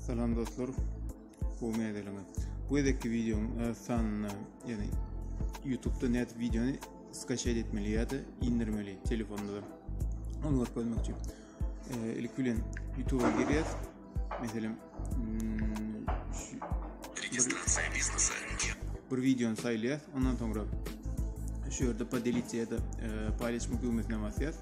Salam dostlar. Bu meýdeliňe. Bu gezekki videoň öz sanyna, ýagny YouTube-da net videony skaşaýt etmeli ýa-da indirmeli telefonda. Onu görkezmek üçin. Ilk bilen YouTube-a girýäs. Meselem, registratsiýa biznesa. Bir videony saýlaýas, ondan soňra şu ýerde podelitýa-da paýlaşmak düwmesine basýas.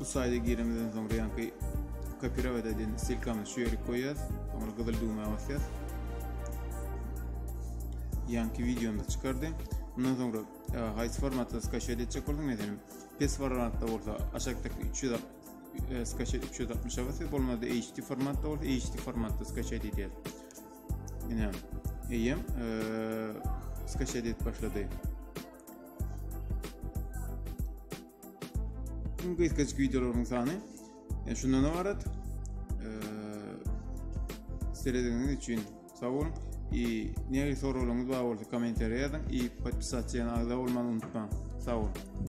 Bu sayda giremizden soňra ýanky kopirovat edin silkamyz şu ýeri goýýas. Soňra gyzyl düwmä basýas. Ýanky videomda çykardy. Bundan soňra e, haýsy formatda skaşet etjek bolsaň, meselem, pes formatda bolsa aşakdaky 300 e, skaşet 360 basy bolmady HD formatda bolsa HD formatda skaşet edýär. Ine, eýem e, skaşet edip başlady. Tüm gysgaçyk videolaryň sany e, şundan ibarat. E, Serediňiz üçin sag boluň. I näme soraglaryňyz bar bolsa kommentariýa ýazyň. I podpisasiýa agza bolmagy unutmaň. Sag boluň.